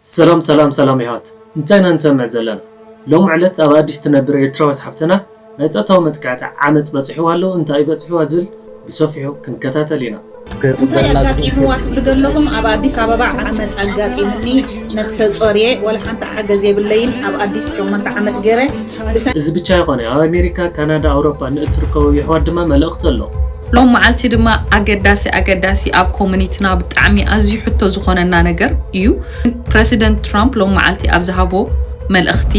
ሰላም ሰላም ሰላም የሕዋት እንታይ ኢና ንሰምዕ ዘለና ሎሚ ዕለት ኣብ ኣዲስ ትነብር ኤርትራዊት ሓፍተና ናይ ጾታዊ መጥቃዕቲ ዓመጽ በጺሕዋ ኣሎ እንታዩ በጺሕዋ ዝብል ብሰፊሑ ክንከታተል ኢና። እንታይ ኣጋጢምዋ ትብሉ ደለኹም ኣብ ኣዲስ ኣበባ ዓመጽ ኣጋጢሙኒ ነብሰጾር እየ ወላ ሓንቲ ሓገዝ የብለይን ኣብ ኣዲስ ሸሞንተ ዓመት ገረ ብሰንኪ እዚ ብቻ ኣይኮነ ኣብ ኣሜሪካ ካናዳ ኣውሮፓ ንእትርከቡ የሕዋት ድማ መልእኽቲ ኣሎ ሎም መዓልቲ ድማ ኣገዳሲ ኣገዳሲ ኣብ ኮሙኒትና ብጣዕሚ ኣዝዩ ሕቶ ዝኾነና ነገር እዩ። ፕረሲደንት ትራምፕ ሎም መዓልቲ ኣብ ዝሃቦ መልእኽቲ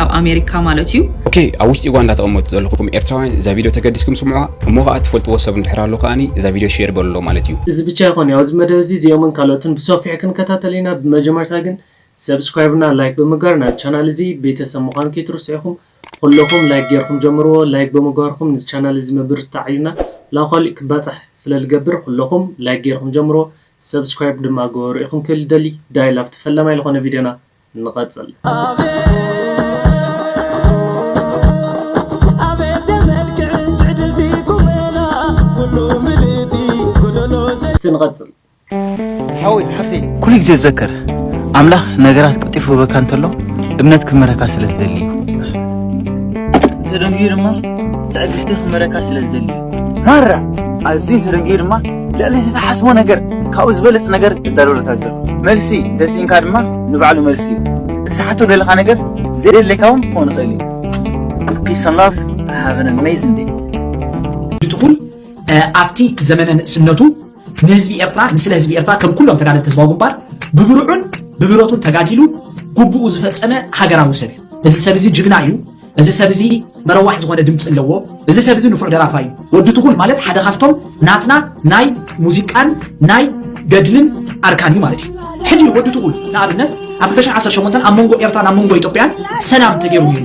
ኣብ ኣሜሪካ ማለት እዩ ኦኬ ኣብ ውሽጢ ዩጋንዳ ተቐመጡ ዘለኹም ኤርትራውያን እዛ ቪድዮ ተገዲስኩም ስምዑዋ እሞ ከኣ ትፈልጥዎ ሰብ እንድሕር ኣሎ ከኣ እዛ ቪድዮ ሼር በልሎ ማለት እዩ። እዚ ብቻ ኣይኮነይ ኣብዚ መደብ እዚ እዚኦምን ካልኦትን ብሰፊሑ ክንከታተል ኢና ብመጀመርታ ግን ሰብስክራይብ እና ላይክ ብምግባር ናዚ ቻናል እዚ ቤተሰብ ምዃን ከይትርስዑ ኢኹም ኹሎኹም ላይክ ጌርኹም ጀምርዎ ላይክ ብምግባርኩም ንዚ ቻናል እዚ ምብርትታዕ እዩና ላዃሊእ ክባጻሕ ስለ ልገብር ኹሎኹም ላይክ ጌርኹም ጀምርዎ ሰብስክራይብ ድማ ግበሩ ኢኹም ክብል ይደሊ ዳይል ኣብቲ ፈላማይ ልኾነ ቪድዮና ንቐጽል። እስቲ ንቐጽል። ሓወይ ሓፍተይ ኩሉ ግዜ ዘከር ኣምላኽ ነገራት ቀልጢፉ ክህበካ እንተሎ እምነት ክመረካ ስለ ዝደሊ እዩ ተደንግዩ ድማ ትዕግስቲ ክመረካ ስለ ዝደሊ እዩ ማራ ኣዝዩ ተደንግዩ ድማ ልዕሊ ዝተሓስቦ ነገር ካብኡ ዝበልፅ ነገር እዳለወለካ ዘሎ መልሲ እንተስኢንካ ድማ ንባዕሉ መልሲ እዩ እቲ ትሓቶ ዘለካ ነገር ዘየድልየካ እውን ክኸውን ይኽእል እዩ Peace and love. Have an amazing day. ይትኹን ኣብቲ ዘመነ ንእስነቱ ንህዝቢ ኤርትራ ንስለ ህዝቢ ኤርትራ ከም ኩሎም ተጋደልቲ ህዝባዊ ግንባር ብብርዑን ብብረቱን ተጋዲሉ ጉቡኡ ዝፈጸመ ሃገራዊ ሰብ እዩ። እዚ ሰብ እዚ ጅግና እዩ። እዚ ሰብ እዚ መረዋሕ ዝኾነ ድምፂ ኣለዎ። እዚ ሰብ እዚ ንፉዕ ደራፋ እዩ። ወዲ ትኹል ማለት ሓደ ካብቶም ናትና ናይ ሙዚቃን ናይ ገድልን ኣርካን እዩ ማለት እዩ። ሕጂ ወዲ ትኹል ንኣብነት ኣብ 2018 ኣብ መንጎ ኤርትራን ኣብ መንጎ ኢትዮጵያን ሰላም ተገይሩ ነይሩ።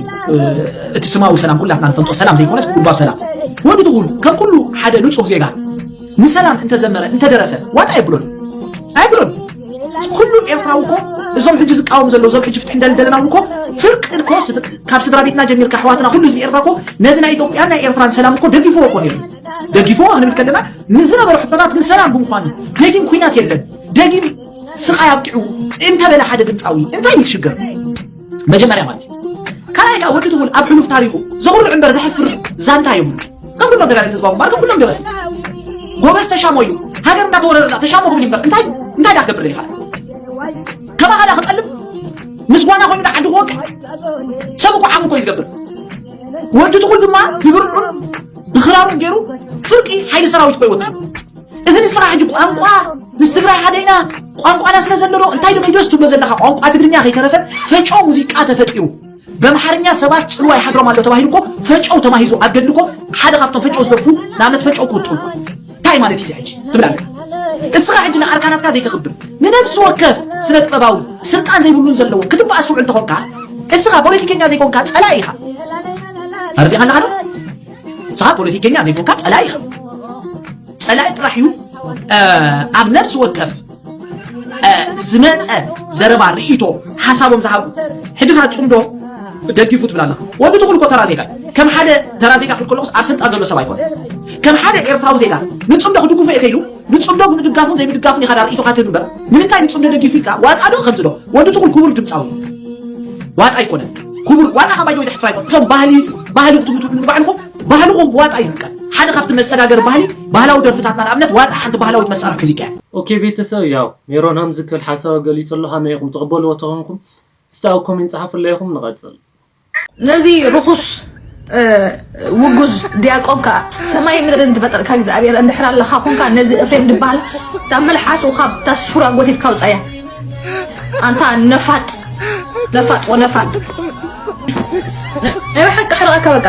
እቲ ስማዊ ሰላም ኩላትና ንፈልጦ ሰላም ዘይኮነስ ጉልባብ ሰላም ወዲ ትኹል ከም ኩሉ ሓደ ንጹህ ዜጋ ንሰላም እንተዘመረ እንተደረፈ ዋጣ የብሎን ኣይብሎን ኩሉ ኤርትራዊ እኮ እዞም ሕጂ ዝቃወሙ ዘለዉ እዞም ሕጂ ፍትሒ እንዳል ደለና እኮ ፍርቂ እኮ ካብ ስድራ ቤትና ጀሚርካ ኣሕዋትና ኩሉ ህዝቢ ኤርትራ እኮ ነዚ ናይ ኢትዮጵያን ናይ ኤርትራን ሰላም እኮ ደጊፍዎ እኮ ነይሩ ደጊፍዎ ክንብል ከለና ንዝነበሩ ሕቶታት ግን ሰላም ብምዃኑ ደጊም ኩናት የለን ደጊም ስቃይ ኣብቂዑ እንተበለ ሓደ ድምፃዊ እንታይ እዩ ክሽገር መጀመርያ ማለት እዩ ካልኣይ ከዓ ወዲ ትኹል ኣብ ሕሉፍ ታሪኹ ዘኹርዕ እምበር ዘሕፍር ዛንታ የብሉ ከም ኩሎም ተጋደልቲ ህዝባዊ ግንባር ከም ኩሎም ደረሲ ጎበዝ ተሻሞ እዩ ሃገር እንዳተወረረላ ተሻሞ ክብል እምበር እንታይ እንታይ ዳ ክገብር ይኻል ከማኻ ዳ ክጠልም ምስ ጓና ኮይኑ ዓዲ ክወቅዕ ሰብ እኮ ዓም እኮ እዩ ዝገብር ወዲ ትኹል ድማ ብብርዑን ብኽራሩን ገይሩ ፍርቂ ሓይሊ ሰራዊት ኮይ ወጥሩ እዚ ንስኻ ሕጂ ቋንቋ ምስ ትግራይ ሓደ ኢና ቋንቋና ስለ ዘለዎ እንታይ ዶ ኪዶስ ትብሎ ዘለካ ቋንቋ ትግርኛ ከይተረፈ ፈጨው ሙዚቃ ተፈጢሩ በምሓርኛ ሰባት ፅልዋ ይሓድሮም ኣሎ ተባሂሉ እኮ ፈጨው ተማሂዙ ኣብ ገድሊ እኮ ሓደ ካብቶም ፈጨው ዝደርፉ ንኣብነት ፈጨው ክውጥኡ እንታይ ማለት እዩ ሕጂ ትብል ኣለካ እስኻ ሕጂ ንኣርካናትካ ዘይተኽብር ንነብሲ ወከፍ ስነ ጥበባዊ ስልጣን ዘይብሉን ዘለዎ ክትበኣስ ውዕል ተኾንካ እስኻ ፖለቲከኛ ዘይኮንካ ፀላኢ ኢኻ ኣርዲኻ ኣለኻ ዶ ንስኻ ፖለቲከኛ ዘይኮንካ ጸላኢ ከም ጸላኢ ጥራሕ እዩ ኣብ ነፍሲ ወከፍ ዝመፀ ዘረባ ርእይቶ ሓሳቦም ዝሃቡ ሕድኻ ፅምዶ ደጊፉ ትብል ኣለኻ ወዲ ትኹል እኮ ተራ ዜጋ ከም ሓደ ተራ ዜጋ ክብል ከለኹስ ኣብ ስልጣን ዘሎ ሰብ ኣይኮነ ከም ሓደ ኤርትራዊ ዜጋ ንፅምዶ ክድግፉ እየ ከይሉ ንጽምዶ ብምድጋፉን ዘይምድጋፉን ኢኻ ድኣ ርእይቶኻ ትህብ እምበር ንምንታይ ንጽምዶ ደጊፉ ኢልካ ዋጣ ዶ ከምዚ ዶ ወዲ ትኹል ክቡር ድምጻዊ ዋጣ ኣይኮነን ክቡር ዋጣ ካብ ባይደወይ ድሕፍራ ኣይኮን እቶም ባህሊ ባህሊ ክትምትሉ ንባዕልኹም ባህልኹም ብዋጣ እዩ ዝጥቀም ሓደ ካብቲ መሰጋገሪ ባህሊ ባህላዊ ደርፍታትና ንኣብነት ዋጣ ሓንቲ ባህላዊት መሳርሒ ሙዚቃ እያ ኦኬ ቤተሰብ ያው ሜሮን ሃምዚ ክብል ሓሳቡ ገሊጹ ኣሎ ሃመይ ኢኹም ትቕበልዎ ተኾንኩም እስቲ ኣብ ኮሜንት ጸሓፉለይ ኢኹም ንቐጽል። ነዚ ርኹስ ውጉዝ ዲያቆን ከዓ ሰማይ ምድርን ዝፈጠርካ እግዚኣብሔር እንድሕር ኣለካ ኮንካ ነዚ እፍሬም ድበሃል ካብ መልሓሱ ካብ ታሱራ ጎቲትካ ውፃያ ኣንታ ነፋጥ ነፋጥ ወነፋጥ ናይ ብሓቂ ሕርቐካ በቃ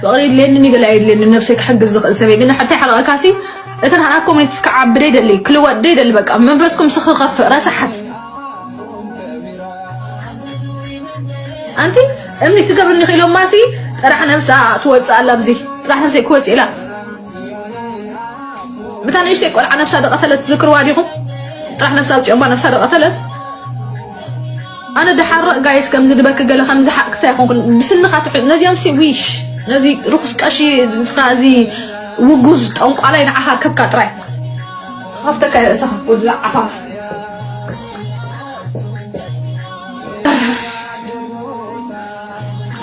ፍቅሪ የድልየኒ ገለ ኣየድልየኒ ነብሰይ ክሕግዝ ዝክእል ሰብ እየ ግን ሓተይ ሓረቀካሲ እቲ ናዓና ኮሜንት ክዓቢ ደይደሊ ክልወጥ ደይደሊ በቃ መንፈስኩም ሲ ክከፍእ ረሳሓት ኣንቲ እምኒ ትገብርኒ ክኢሎማሲ ጥራሕ ነብሳ ትወፅእ ኣላ ኣብዚ ጥራሕ ነብሰይ ክወፅእ ኢላ እታ ንእሽተይ ቆልዓ ነብሳ ዝቐተለት ዝክርዋ ዲኹም ጥራሕ ነብሳ ኣውፂኦማ ነብሳ ዝቐተለት ኣነ ድሓረቕ ጋይስ ከምዚ ድበኪ ገለ ከምዚ ሓቅሳ ይኹንኩን ብስንኻ ትሕ ነዚኦም ሲ ዊሽ ነዚ ርኹስ ቀሺ ዝስኻ እዚ ውጉዝ ጠንቋላይ ንዓኻ ከብካ ጥራይ ከፍተካ ይርእሰኻ ወድላ ዓፋፍ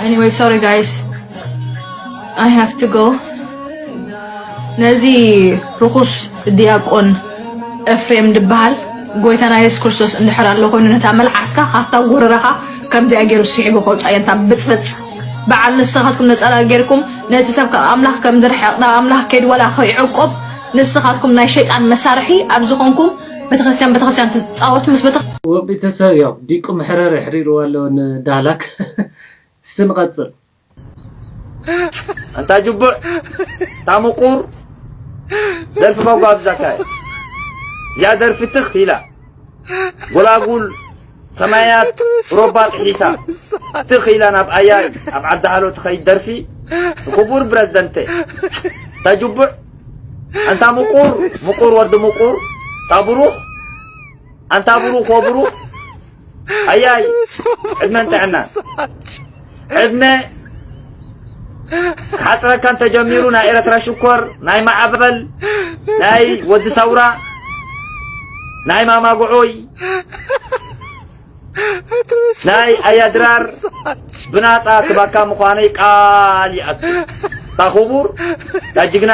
Anyway, sorry guys. I have to go ነዚ ርኹስ ዲያቆን ኤፍሬም ድበሃል ጎይታና የሱስ ክርስቶስ እንድሕር ኣሎ ኮይኑ ነታ መልዓስካ ካብታ ጎረረኻ ከምዚኣ ገይሩ ስሒቡ ከውፃእ የንታ ብፅብፅ በዓል ንስኻትኩም ነፀላ ጌርኩም ነቲ ሰብ ካብ ኣምላኽ ከም ዝርሕቕ ናብ ኣምላኽ ከይድ ዋላ ከይዕቆብ ንስኻትኩም ናይ ሸይጣን መሳርሒ ኣብ ዝኾንኩም ቤተክርስትያን ቤተክርስትያን ትፃወቱ ምስ ቤተ ወጲተሰብ ያው ዲቁ መሕረር የሕሪርዎ ኣሎ ንዳህላክ እስቲ ንቐጽል ኣንታ ጅቡዕ እታ ምቁር ደርፊ መጓብዛካ እያ እዚኣ ደርፊ ትኽ ኢላ ጎላጉል ሰማያት ሮባ ጥሒሳ ትኽ ኢላ ናብ ኣያይ ኣብ ዓዲ ሃሎ ትኸይድ ደርፊ ንክቡር ፕረዚደንተ እታ ጅቡዕ ኣንታ ምቁር ምቁር ወዲ ምቁር እታ ብሩኽ ኣንታ ብሩኽ ወብሩኽ ኣያይ ዕድመን ጥዕናን ዕድመ ክሓፅረካ እንተጀሚሩ ናይ ኤረትራ ሽኮር ናይ ማዕበል ናይ ወዲ ሰውራ ናይ ማማጉዑይ ናይ ኣያድራር ብናፃ ትባካ ምዃነይ ቃል ይኣቱ ታኹቡር ዳጅግና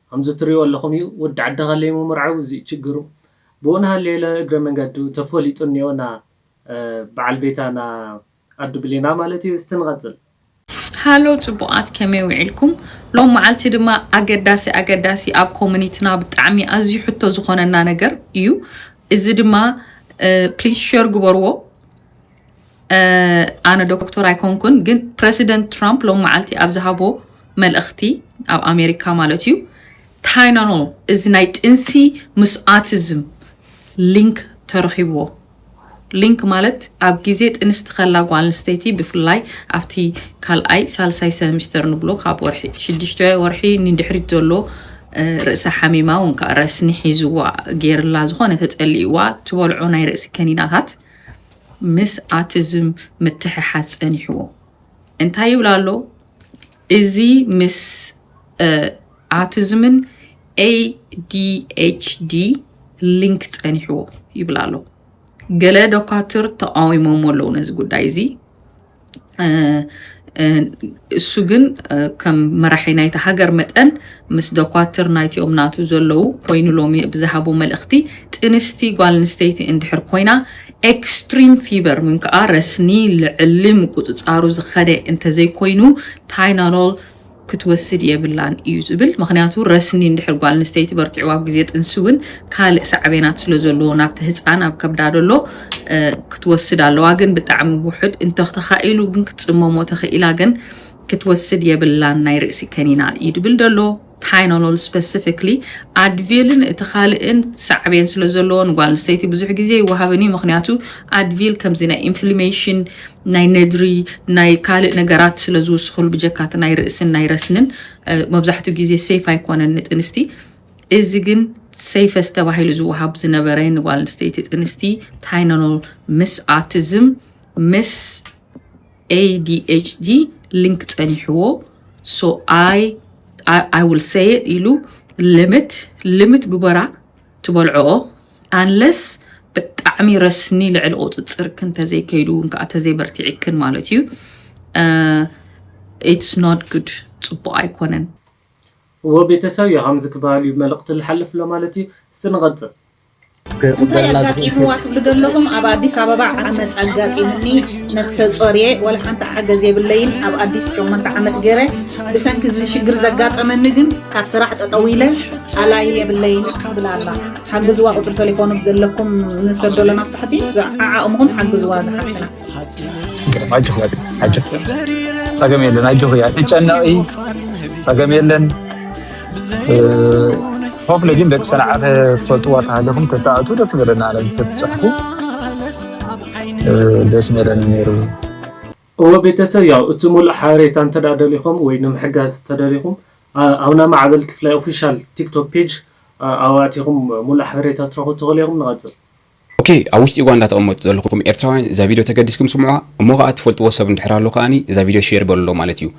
ከምዚ ትሪእዎ ኣለኹም እዩ ወዲ ዓዲ ሃለይ ምምርዓው እዚ እዩ ችግሩ ብኡን ሃለየለ እግረ መንገዱ ተፈሊጡ እኒኦ እና በዓል ቤታ እና ኣዱ ብሌና ማለት እዩ እስቲ ንቐፅል። ሃሎ ጽቡቃት ከመይ ዊዒልኩም ሎም መዓልቲ ድማ ኣገዳሲ ኣገዳሲ ኣብ ኮሙኒትና ብጣዕሚ ኣዝዩ ሕቶ ዝኮነና ነገር ኢዩ እዚ ድማ ፕሊስ ሸር ግበርዎ ኣነ ዶክተር ኣይኮንኩን ግን ፕረሲደንት ትራምፕ ሎም መዓልቲ ኣብ ዝሃቦ መልእኽቲ ኣብ ኣሜሪካ ማለት እዩ ታይናኖ እዚ ናይ ጥንሲ ምስ ኣቲዝም ሊንክ ተረኺብዎ ሊንክ ማለት ኣብ ግዜ ጥንስቲ ከላ ጓል ኣንስተይቲ ብፍላይ ኣብቲ ካልኣይ ሳልሳይ ሰሚስተር ንብሎ ካብ ወርሒ ሽዱሽተ ወርሒ ንድሕሪት ዘሎ ርእሰ ሓሚማ እውን ከዓ ረስኒ ሒዝዋ ገይርላ ዝኾነ ተፀሊእዋ ትበልዖ ናይ ርእሲ ከኒናታት ምስ ኣቲዝም ምትሕሓዝ ጸኒሕዎ እንታይ ይብል ኣሎ እዚ ምስ ኣቲዝምን ADHD ሊንክ ጸኒሕዎ ይብል ኣሎ። ገለ ዶካትር ተቃዊሞሞ ኣለዉ ነዚ ጉዳይ እዚ እሱ ግን ከም መራሒ ናይቲ ሃገር መጠን ምስ ደኳትር ናይቲኦም ናቱ ዘለዉ ኮይኑ ሎሚ ብዝሃቦ መልእኽቲ ጥንስቲ ጓል ኣንስተይቲ እንድሕር ኮይና ኤክስትሪም ፊቨር ምን ከዓ ረስኒ ልዕሊ ምቁፅፃሩ ዝኸደ እንተዘይኮይኑ ታይናኖል ክትወስድ የብላን እዩ ዝብል። ምኽንያቱ ረስኒ እንድሕር ጓል ኣንስተይቲ በርቲዑ ኣብ ግዜ ጥንሲ እውን ካልእ ሳዕቤናት ስለ ዘለዎ ናብቲ ህፃን ኣብ ከብዳ ዘሎ ክትወስድ ኣለዋ። ግን ብጣዕሚ ውሑድ እንተተኻኢሉ ግን ክትፅመሞ ተኽኢላ ግን ክትወስድ የብላን ናይ ርእሲ ከኒና እዩ ድብል ደሎ። ታይኖሎል ስፐሲፊክሊ ኣድቪልን እቲ ካልእን ሳዕቤን ስለ ዘለዎ ንጓል ኣንስተይቲ ብዙሕ ግዜ ይወሃብን እዩ ምክንያቱ ኣድቪል ከምዚ ናይ ኢንፍሊሜሽን ናይ ነድሪ ናይ ካልእ ነገራት ስለ ዝውስኹሉ ብጀካ እቲ ናይ ርእስን ናይ ረስንን መብዛሕትኡ ግዜ ሰይፍ ኣይኮነን ንጥንስቲ እዚ ግን ሰይፈስ ተባሂሉ ዝወሃብ ዝነበረ ንጓል ኣንስተይቲ ጥንስቲ ታይናኖል ምስ ኣቲዝም ምስ ኤዲኤችዲ ሊንክ ጸኒሕዎ ሶ ኣይ ኣይ ውል ሰይ ኢሉ ልምት ልምት ግበራ ትበልዕኦ ኣንለስ ብጣዕሚ ረስኒ ልዕሊ ቁፅፅርክን ተዘይከይዱ እውን ከዓ ተዘይበርቲዕክን ማለት እዩ ኢትስ ኖት ጉድ ፅቡቅ ኣይኮነን እዎ ቤተሰብ እዩ ከምዚ ክበሃል እዩ መልእክቲ ልሓልፍ ኣሎ ማለት እዩ እስቲ ንቐፅል እንታይ ኣጋጢምዋ ትብሉ ዘለኹም ኣብ ኣዲስ ኣበባ ዓመፅ ኣጋጢሙኒ ነብሰ ፆር እየ ወላ ሓንቲ ሓገዝ የብለይን ኣብ ኣዲስ ሸሞንተ ዓመት ገይረ ብሰንኪ እዚ ሽግር ዘጋጠመኒ ግን ካብ ስራሕ ጠጠው ኢለ ኣላይ የብለይን ትብላ ኣላ ሓግዝዋ ቁፅሪ ቴሌፎኑ ዘለኩም ንሰዶ ኣለና ትሕቲ ዝዓዓቕምኹም ሓግዝዋ ዝሓትና ኣጆኽ ኣጆኽ ፀገም የለን ኣጆኽ እያ እጨነቂ ፀገም የለን ሆፍለ ግን ደቂ ሰንዓፈ ትፈልጥዋ ተሃለኹም ከተኣቱ ደስ በለና ነዚ ተትፅሕፉ ደስ በለኒ ነይሩ እወ ቤተሰብ ያው እቲ ሙሉእ ሓበሬታ እንተድኣ ደሊኹም ወይ ንምሕጋዝ ተደሊኹም ኣብና ማዕበል ክፍላይ ኦፊሻል ቲክቶክ ፔጅ ኣብኡ ኣቲኹም ሙሉእ ሓበሬታ ትረኽቡ ትኽእሉ ኢኹም ንቐጽል። ኦኬ ኣብ ውሽጢ ኡጋንዳ ትቅመጡ ዘለኩም ኤርትራውያን እዛ ቪድዮ ተገዲስኩም ስምዑዋ እሞ ከኣ ትፈልጥዎ ሰብ እንድሕር ኣሎ ከኣ እዛ ቪድዮ ሼር በልሎ ማለት እዩ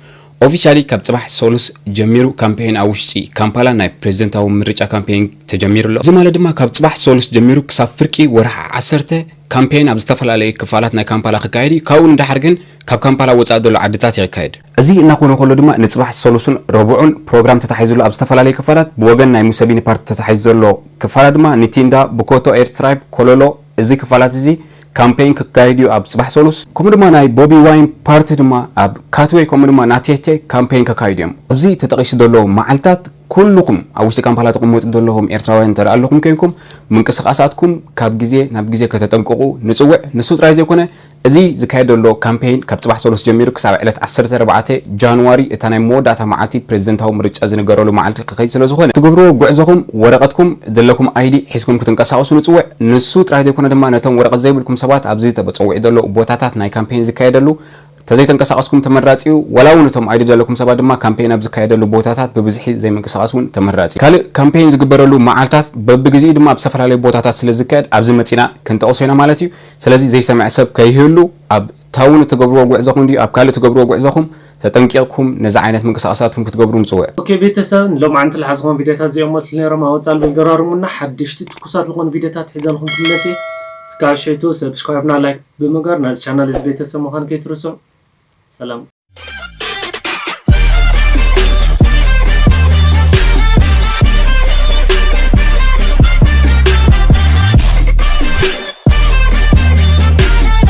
ኦፊሻሊ ካብ ጽባሕ ሰሉስ ጀሚሩ ካምፔይን ኣብ ውሽጢ ካምፓላ ናይ ፕረዚደንታዊ ምርጫ ካምፔይን ተጀሚሩ ኣሎ እዚ ማለት ድማ ካብ ጽባሕ ሰሉስ ጀሚሩ ክሳብ ፍርቂ ወርሒ ዓሰርተ ካምፔይን ኣብ ዝተፈላለዩ ክፋላት ናይ ካምፓላ ክካየድ እዩ፣ ካብኡ ንደሓር ግን ካብ ካምፓላ ወጻኢ ዘሎ ዓድታት እዩ ክካየድ። እዚ እናኾነ ከሎ ድማ ንጽባሕ ሰሉስን ረቡዕን ፕሮግራም ተታሒዙሉ ኣብ ዝተፈላለዩ ክፋላት ብወገን ናይ ሙሰቢኒ ፓርቲ ተታሒዙ ዘሎ ክፋላት ድማ ንቲንዳ፣ ቡኮቶ፣ ኤርትራይፕ፣ ኮሎሎ እዚ ክፋላት እዚ ካምፔይን ክካየድ እዩ ኣብ ጽባሕ ሰሉስ። ከምኡ ድማ ናይ ቦቢ ዋይን ፓርቲ ድማ ኣብ ካትዌ ከምኡ ድማ ናቴቴ ካምፔይን ከካይዱ እዮም ኣብዚ ተጠቒሱ ዘሎ መዓልታት። ኩሉኹም ኣብ ውሽጢ ካምፓላ ትቕመጡ ዘለኹም ኤርትራውያን እንተ ኣለኹም ኴንኩም ምንቅስቓሳትኩም ካብ ግዜ ናብ ግዜ ከተጠንቅቑ ንጽውዕ። ንሱ ጥራይ ዘይኮነ እዚ ዝካየድ ዘሎ ካምፔይን ካብ ጽባሕ ሰሉስ ጀሚሩ ክሳብ ዕለት ዓሰርተ ኣርባዕተ ጃንዋሪ እታ ናይ መወዳእታ መዓልቲ ፕረዚደንታዊ ምርጫ ዝንገረሉ መዓልቲ ክኸይድ ስለ ዝኾነ፣ ትገብርዎ ጉዕዞኹም ወረቐትኩም ዘለኩም ኣይዲ ሒዝኩም ክትንቀሳቐሱ ንጽውዕ። ንሱ ጥራይ ዘይኮነ ድማ ነቶም ወረቐት ዘይብልኩም ሰባት ኣብዚ ተበጸዊዑ ዘሎ ቦታታት ናይ ካምፔይን ዝካየደሉ ተዘይተንቀሳቐስኩም ተመራጺ'ዩ። ዋላ እውን እቶም ኣይዲ ዘለኩም ሰባት ድማ ካምፔይን ኣብ ዝካየደሉ ቦታታት ብብዝሒ ዘይምንቅስቓስ እውን ተመራጺ'ዩ። ካልእ ካምፔይን ዝግበረሉ መዓልታት በብግዜኡ ድማ ኣብ ዝተፈላለዩ ቦታታት ስለ ዝካየድ ኣብዚ መጺእና ክንጠቕሶ ኢና ማለት እዩ። ስለዚ ዘይሰምዐ ሰብ ከይህሉ ኣብ ታውን እትገብርዎ ጉዕዞኹም ድዩ ኣብ ካልእ እትገብርዎ ጉዕዞኹም ተጠንቂቕኩም ነዚ ዓይነት ምንቅስቓሳትኩም ክትገብሩ ንጽውዕ። ኦኬ ቤተሰብ ንሎምዓንቲ ልሓዝኹም ቪድዮታት እዚኦም መስሉ ነይሮም ኣብ ወጻሊ ብልገራርሙና ሓደሽቲ ትኩሳት ልኾኑ ቪድዮታት ሒዘልኹም ክምለስ እየ እስካብ ሽዕቱ ሰብስክራይብና ላይክ ብምግባር ናዚ ቻናል እዚ ቤተሰብ ምዃን ከይትርስዑ ሰላም።